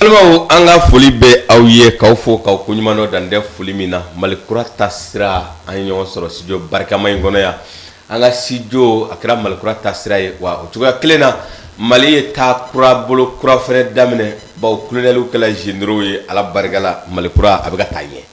balimaw an ka foli bɛ aw ye k'aw fo k'aw ko ɲuman dɔn dan tɛ foli min na mali kura taasira an ye ɲɔgɔn sɔrɔ studio barikama in kɔnɔ yan an ka studio a kɛra mali kura taasira ye wa o cogoya kelen na mali ye taa kura bolo kura fɛnɛ daminɛ bawo kolonɛliw kɛla généraux ye ala barika la mali kura a bɛ ka taa ɲɛ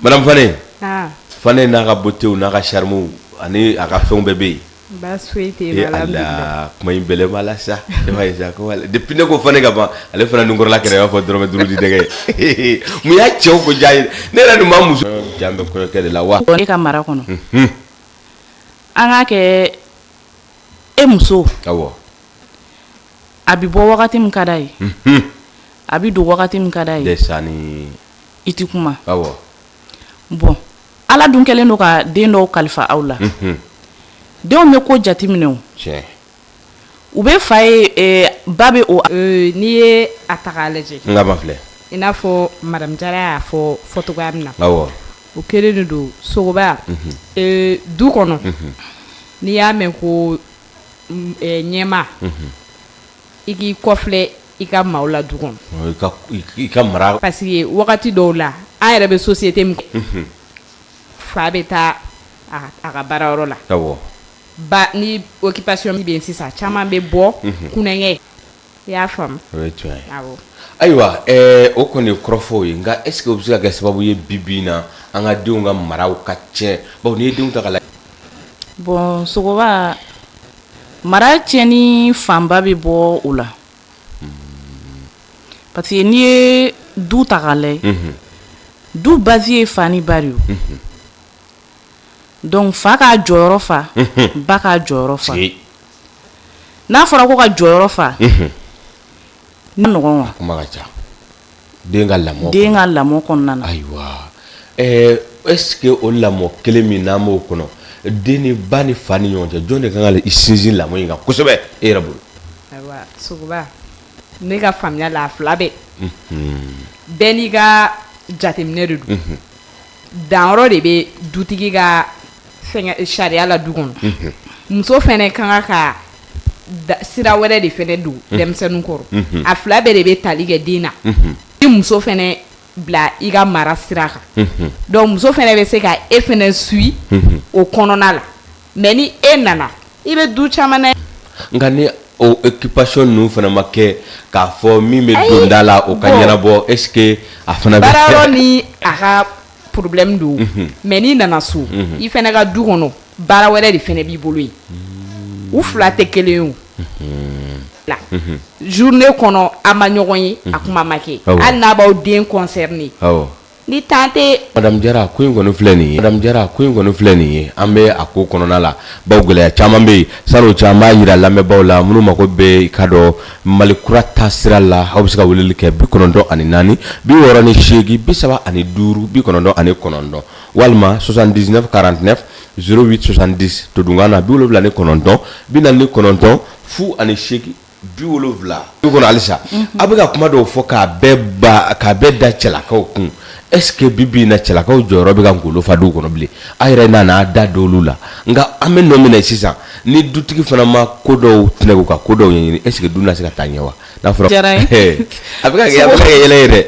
Madame Fane n'a ka beauté n'a ka charme ani a ka fɛnw bɛɛ bɛ yen kuma in bɛɛ b'a la sa ne ko Fane ka ban ale fana nunkɔrɔla kɛra i b'a fɔ dɔrɔmɛ duuru dɛgɛ mun y'a cɛw ko diya ye ne yɛrɛ nin ma muso jan bɛ kɔɲɔkɛ de la wa e ka mara kɔnɔ an k'a kɛ e muso a bɛ bɔ wagati min ka d'a ye a bɛ don wagati min ka d'a ye sa i tɛ kuma bon ala dun kɛlen don ka den dɔw kalifa aw la denw bɛ ko jateminɛ u bɛ fa ye ba bɛ o n'i ye a ta k'a lajɛ filɛ i n'a fɔ madame Jara y'a fɔ fɔcogoya min na o kɛlen de don sogoba du kɔnɔ n'i y'a mɛn ko ɲɛma I k'i kɔfilɛ i ka maaw la du kɔnɔ i ka mara parce que wagati dɔw la an yɛrɛ bɛ société min fa bɛ taa a ka baara yɔrɔ la ba ni occupation min bɛ sisan caman bɛ bɔ kunkɛ i y'a faamu ayiwa o kɔni ye kɔrɔfɔw ye nka est-ce que o bɛ se ka kɛ sababu ye bi bi na an ka denw ka maraw ka tiɲɛ bawo n'i ye denw ta k'a lajɛ bon sogo Mara tiɲɛni fanba bɛ bɔ o la parce que n'i ye du ta k'a lajɛ du base ye fa ni ba de ye donc fa k'a jɔyɔrɔ fa ba k'a jɔyɔrɔ fa n'a fɔra ko ka jɔyɔrɔ fa den ka lamɔ den ka lamɔ kɔnɔna na ayiwa ɛɛ est-ce que o lamɔ kelen min n'an b'o kɔnɔ den ni ba ni fa ni ɲɔgɔn cɛ jɔn de ka kan ka i sinsin lamɔ in kan kosɛbɛ e yɛrɛ bolo ayiwa sogoba ne ka faamuya la a fila bɛɛ bɛɛ n'i ka jateminɛ de don danyɔrɔ de bɛ dutigi ka sariya la du kɔnɔ muso fana ka kan ka sira wɛrɛ de fana don denmisɛnnin kɔrɔ a fila bɛɛ de bɛ tali kɛ den na i muso fana bila i ka mara sira kan donc muso fana bɛ se ka e fana suit o kɔnɔna la mais ni e nana i bɛ du caman na nka ni o occupation ninnu fana ma kɛ k'a fɔ min bɛ donda la o ka ɲɛnabɔ est-ce que a fana bɛ baarayɔrɔ ni a ka problème don mais n'i nana so i fɛnɛ ka du kɔnɔ baara wɛrɛ de fɛnɛ b'i bolo yen u fila tɛ kelen o la journée kɔnɔ a ma ɲɔgɔn ye a kuma ma kɛ hali n'a b'aw den concerner Ni tan tɛ madame Jara ko in kɔni filɛ nin ye an bɛ a ko kɔnɔna la bawo gɛlɛya caman bɛ yen san'o cɛ an b'a yira lamɛnbaaw la minnu mako bɛ i ka dɔn Mali kura taasira la aw bɛ se ka weleli kɛ bi kɔnɔntɔn ani naani bi wɔɔrɔ ni seegin bi saba ani duuru bi kɔnɔntɔn ani kɔnɔntɔn walima 79 49 08 70 todunkan na bi wolonwula ni kɔnɔntɔn bi naani ni kɔnɔntɔn fu ani seegin bi wolowula du kɔnɔ halisa a bɛ ka kuma dɔw fɔ k'a bɛɛ k'a bɛɛ da cɛlakaw kun est-ce que bi bi na cɛlakaw jɔyɔrɔ bɛ ka ngolo fa du kɔnɔ bilen a yɛrɛ nana da dɔlu la nka an bɛ nɔ min na sisan ni dutigi fana ma ko dɔw tɛnɛku ka ko dɔw ɲɛɲini est-ce que du na se ka taa ɲɛ wa n'a a bɛ yɛlɛ yɛrɛ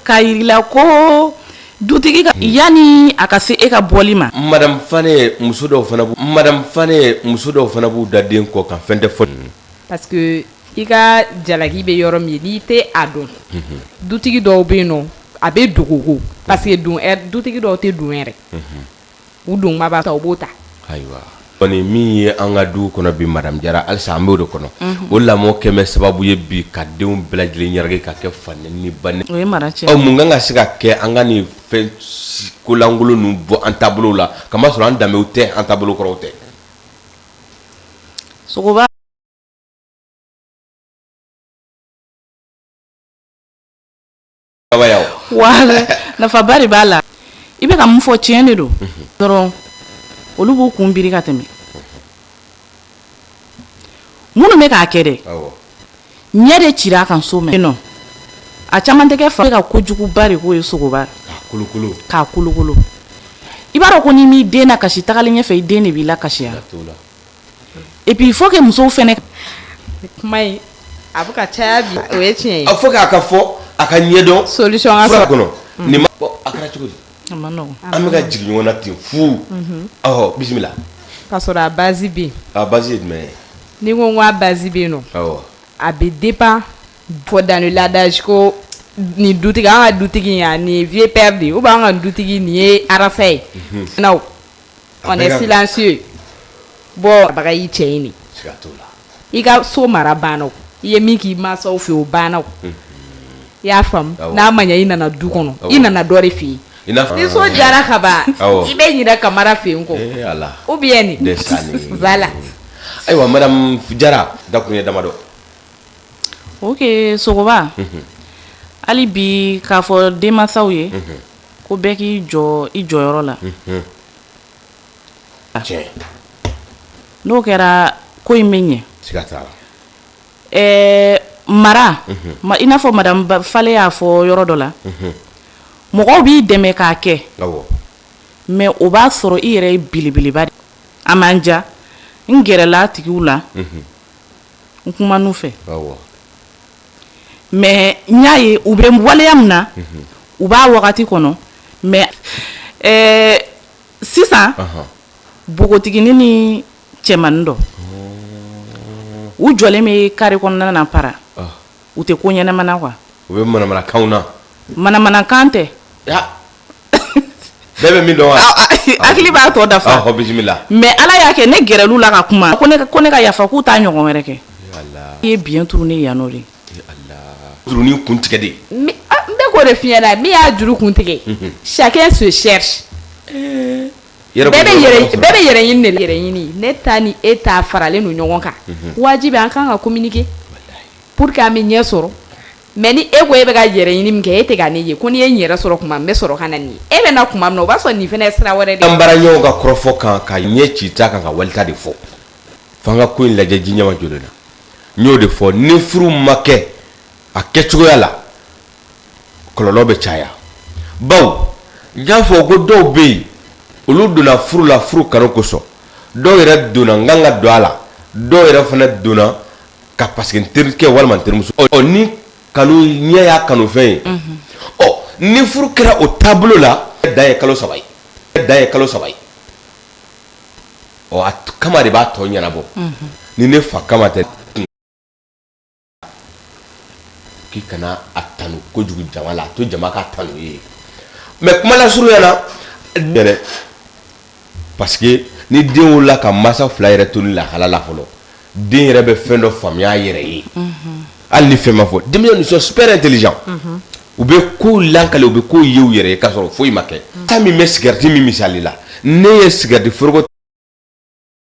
ka jirala ko Dutigi yanni a ka se e ka bɔli ma madame Fane muso dɔw fana b'u madame Fane muso dɔw fana b'u da den kɔ kan fɛn tɛ fɔ parce que i ka jalaki bɛ yɔrɔ min n'i tɛ a dɔn dutigi dɔw bɛ yen nɔ a bɛ dogo parce que dutigi dɔw tɛ don yɛrɛ u don b'a ta u b'o ta ayiwa kɔni min ye an ka du kɔnɔ bi madame Jara halisa an b'o de kɔnɔ o lamɔ kɛmɛ sababu ye bi ka denw bɛɛ lajɛlen ɲaraki ka kɛ fa ni ba mun kan ka se ka kɛ an ka nin fɛn kolankolon ninnu bɔ an taabolo la k'a masɔrɔ an danbew tɛ an taabolo kɔrɔw tɛ nafaba de b'a la i bɛ ka mun fɔ tiɲɛ de don dɔrɔn olu b'u kun biri ka tɛmɛ minnu bɛ k'a kɛ dɛ ɲɛ de cira a kan so mɛn nɔ a caman tɛ kɛ fa ka kojuguba de k'o ye sogoba k'a kolokolo i b'a dɔn ko n'i m'i den na kasi tagalen ɲɛfɛ i den de b'i la kasiya et puis il faut que musow fɛnɛ kuma in a bɛ ka caya bi o ye tiɲɛ ye a faut que a ka fɔ a ka ɲɛdɔn solution ka sɔrɔ kɔnɔ mm. nin ma bɔ a kɛra cogo di a ma nɔgɔn an bɛ ka jigin ɲɔgɔn na ten fu mhm. ɔhɔ bisimila ka sɔrɔ a base bɛ yen a base ye jumɛn ye ni ko ko a base bɛ yen nɔ awɔ a bɛ dépend fɔ dans le ladage ko nin dutigi an ka dutigi in yan nin ye vieux père de ye ou bien an ka dutigi nin ye arasa ye mhm. naw silencieux bɔbaga y'i cɛ ye de, siga t'o la, i ka so mara banna o, i ye min k'i mansaw fɛ yen o banna o, unhun, i y'a faamu, awɔ, n'a ma ɲɛ i nana du kɔnɔ, awɔ, i nana dɔ de fɛ yen, i n'a fɔ, ni so Jara ka ban, awɔ, i bɛ ɲinɛ Kamara fɛ yen kɔ, ee Ala, ou bien nin, voilà, ayiwa madame Jara dakuruɲɛ damadɔ, ok Sogoba, unhun, hali bi k'a fɔ denmansaw ye, unhun ko bɛɛ k'i jɔ i jɔyɔrɔ la n'o kɛra ko in bɛ ɲɛ mara i n'a fɔ madame Fale y'a fɔ yɔrɔ dɔ la mɔgɔw b'i dɛmɛ k'a kɛ mais o b'a sɔrɔ i yɛrɛ belebeleba de a man jan n gɛrɛla tigiw la n kuman'u fɛ mais n y'a ye u bɛ waleya min na u b'a wagati kɔnɔ mais ɛɛ sisan npogotigini ni cɛmannin dɔ u jɔlen bɛ carré kɔnɔna na para u tɛ ko ɲɛnama na quoi u bɛ manamanakanw na manamanakan tɛ. Bɛɛ bɛ min dɔn wa? Ɔ a i hakili b'a tɔ dafa ɔhɔ bisimila mais Ala y'a kɛ ne gɛrɛl'u la ka kuma ko ne ka ko ne ka yafa k'u t'a ɲɔgɔn wɛrɛ kɛ ee Ala i ye biɲɛ turu ne ye yan nɔ de ee Ala jurunin kun tigɛ de mi a n bɛ k'o de f'i ɲɛna min y'a juru kun tigɛ unhun chacun se cherche ee yɛrɛ bɛɛ bɛ yɛrɛ ɲi bɛɛ bɛ yɛrɛ ɲini de la yɛrɛ ɲini ne ta ni e ta faralen don ɲɔgɔn kan unhun waajibi an kan ka communiquer walahi pour que an bɛ ɲɛ sɔrɔ Mais ni e ko e bɛ ka yɛrɛ ɲini min kɛ e tɛ ka ne ye ko n' ye yɛrɛ sɔrɔ tuma n bɛ sɔrɔ ka na nin e bɛ na tuma min o b'a sɔrɔ nin fana sira wɛrɛ an bara ɲɔgɔn ka kɔrɔfɔ kan ka ɲɛ ci i ta kan ka wali ta de fɔ f'an ka ko in lajɛ ji ɲɛmajɔlen na n y'o de fɔ ni furu ma kɛ a kɛ cogoya la kɔlɔlɔ bɛ caya bawo n y'a fɔ ko dɔw bɛ yen olu donna furu la furu kanu kosɔn dɔw yɛrɛ donna n kan ka don a la dɔw yɛrɛ fana donna ka parce que n terikɛ walima n terimuso ni kanu ɲɛ y'a kanufɛn ye ɔ ni furu kɛra o taabolo la dan ye kalo saba ye dan ye kalo saba ye ɔ Kamate b'a tɔ ɲɛnabɔ ni ne fa Kamate k'i kana a tanu kojugu jama la a to jama k'a tanu i ye mais kumalasurunya na Parce que ni den wolola ka masa fila yɛrɛ to nin lahala la fɔlɔ den yɛrɛ bɛ fɛn dɔ faamuya a yɛrɛ ye hali ni fɛn ma fɔ denmisɛnw ils sont super intelligents u bɛ kow lakale u bɛ kow ye u yɛrɛ ye ka sɔrɔ foyi ma kɛ ta min bɛ sigarɛti min misali la ne ye sigarɛti foroko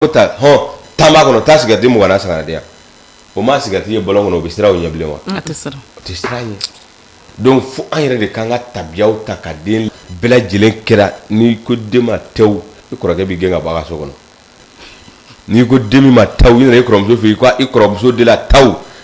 ko taa hɔn tan b'a kɔnɔ taa sigarɛti mugan na san ka na di yan o ma sigarɛti ye bɔlɔn kɔnɔ o bɛ siran o ɲɛ bilen wa a tɛ siran ɲɛ donc fo an yɛrɛ de k'an ka tabiyaw ta ka den bɛɛ lajɛlen kɛra n'i ko den ma tɛ i kɔrɔkɛ b'i gɛn ka bɔ a ka so kɔnɔ n'i ko den min ma taw i nana i kɔrɔmuso fɛ yen i kɔrɔmuso de la taw